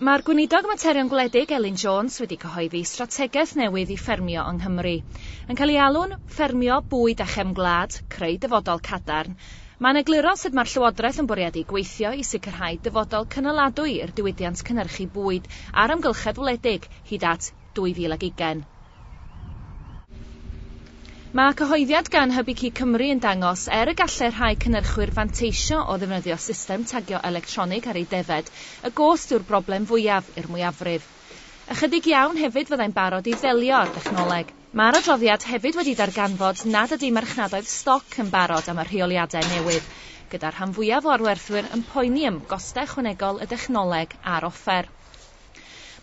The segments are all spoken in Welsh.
Mae'r Gweinidog Materion Gwledig Elin Jones wedi cyhoeddi strategaeth newydd i ffermio yng Nghymru. Yn cael ei alw'n ffermio bwyd a chefn gwlad, creu dyfodol cadarn. Mae'n egluro sut mae'r Llywodraeth yn bwriadu gweithio i sicrhau dyfodol cynaladwy i'r diwydiant cynhyrchu bwyd a'r amgylchedd wledig hyd at 2020. Mae cyhoeddiad gan Hybu Cig Cymru yn dangos, er y gallai rhai cynyrchwyr fanteisio o ddefnyddio system tagio electronig ar eu defaid, y gost yw'r broblem fwyaf i'r mwyafrif. Ychydig iawn hefyd fyddai'n barod i ddelio â'r dechnoleg. Mae'r adroddiad hefyd wedi darganfod nad ydy marchnadoedd stoc yn barod am y rheoliadau newydd, gyda'r rhan fwyaf o arwerthwyr yn poeni am gostau ychwanegol y dechnoleg a'r offer.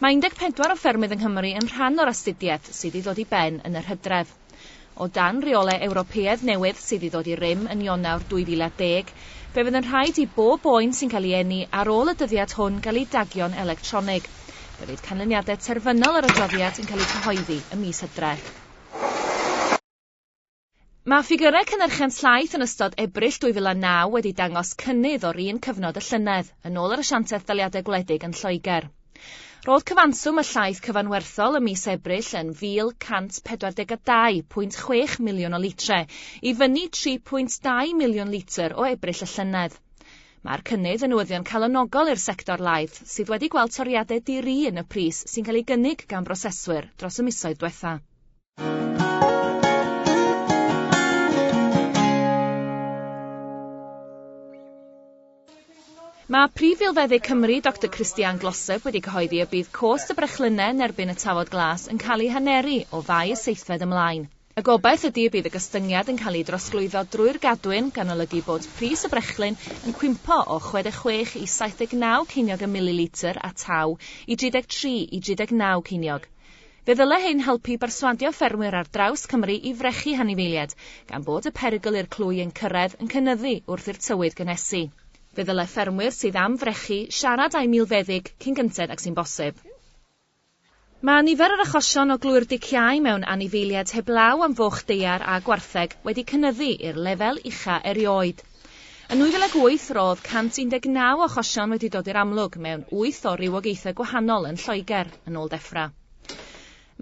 Mae 14 o ffermydd yng Nghymru yn rhan o'r astudiaeth sydd i ddod i ben yn yr hydref. O dan reolau Ewropeaidd newydd sydd i ddod i rym yn Ionawr 2010, fe fydd yn rhaid i bob boen sy'n cael ei eni ar ôl y dyddiad hwn gael ei dagio'n electronig. Fe fydd canlyniadau terfynol yr adroddiad yn cael eu cyhoeddi ym mis Hydref. Mae ffigyrau cynhyrchiant llaeth yn ystod Ebrill 2009 wedi dangos cynnydd o'r un cyfnod y llynedd, yn ôl yr Asiantaeth Daliadau Gwledig yn Lloegr. Roedd cyfanswm y llaeth cyfanwerthol ym mis Ebrill yn 1,142.6 miliwn o litrau, i fyny 3.2 miliwn litr o Ebrill y llynedd. Mae'r cynnydd yn newyddion calonogol i'r sector laeth, sydd wedi gweld toriadau di-ri yn y pris sy'n cael ei gynnig gan broseswyr dros y misoedd diwetha'. Mae Prif Filfeddyg Cymru, Doctor Christiaan Glossop wedi cyhoeddi y bydd cost y brechlynnau yn erbyn y tafod glas yn cael ei haneru o Fai y seithfed ymlaen. Y gobaith ydy y bydd y gostyngiad yn cael ei drosglwyddo drwy'r gadwyn, gan olygu bod pris y brechlyn yn cwympo o 66 i 79 ceiniog y mililitr a taw i 33 i 39 ceiniog. Fe ddyle hyn helpu i berswadio ffermwyr ar draws Cymru i frechu hanifeiliaid, gan bod y perygl i'r clwy ein cyrraedd yn cynyddu wrth i'r tywydd gynhesu. Fe ddyle ffermwyr sydd am frechu siarad â'u milfeddyg cyn gynted ag sy'n bosib. Mae nifer yr achosion o glwy'r diciâu mewn anifeiliaid heblaw am foch daear a gwartheg wedi cynyddu i'r lefel ucha' erioed. Yn 2008 roedd 119 o achosion wedi dod i'r amlwg mewn wyth o rywogaethau gwahanol yn Lloegr, yn ôl Defra.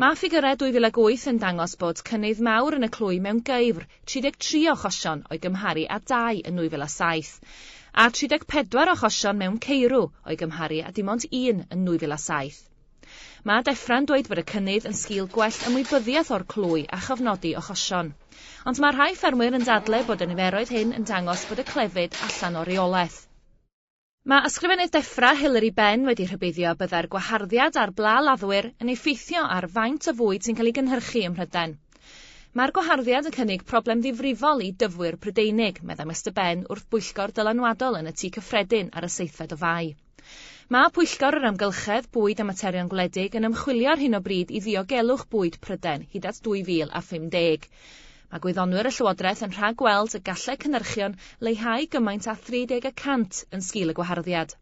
Mae ffigyrau 2008 yn dangos bod cynnydd mawr yn y clwy mewn geifr, 33 o achosion o'i gymharu â dau yn 2007, a 34 o achosion mewn ceirw o'i gymharu â dim ond un yn 2007. Mae Defra'n dweud bod y cynnydd yn sgil gwell ymwybyddiaeth o'r clwy a chofnodi achosion. Ond mae rhai ffermwyr yn dadlau bod y niferoedd hyn yn dangos bod y clefyd allan o reolaeth. Mae Ysgrifennydd Defra, Hilary Benn wedi rhybuddio y byddai'r gwaharddiad ar bla laddwyr yn effeithio ar faint o fwyd sy'n cael ei gynhyrchu ym Mhrydain. Mae'r gwaharddiad yn cynnig problem ddifrifol i dyfwyr Prydeinig, meddai Mister Benn wrth bwyllgor dylanwadol yn y Tŷ Cyffredin ar y seithfed o Fai. Mae Pwyllgor yr Amgylchedd, Bwyd a Materion Gwledig yn ymchwilio ar hyn o bryd i ddiogelwch bwyd Prydain hyd at 2050. Mae gwyddonwyr y Llywodraeth yn rhag-weld y gallai cynhyrchion leihau gymaint â 30 y cant yn sgil y gwaharddiad.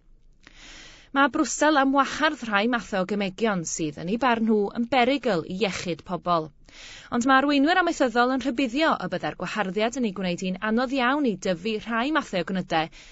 Mae Brwsel am wahardd rhai mathau o gemegion sydd, yn eu barn nhw, yn berygl i iechyd pobl. Ond mae arweinwyr amaethyddol yn rhybuddio y byddai'r gwaharddiad yn ei gwneud hi'n anodd iawn i dyfu rhai mathau o gnydau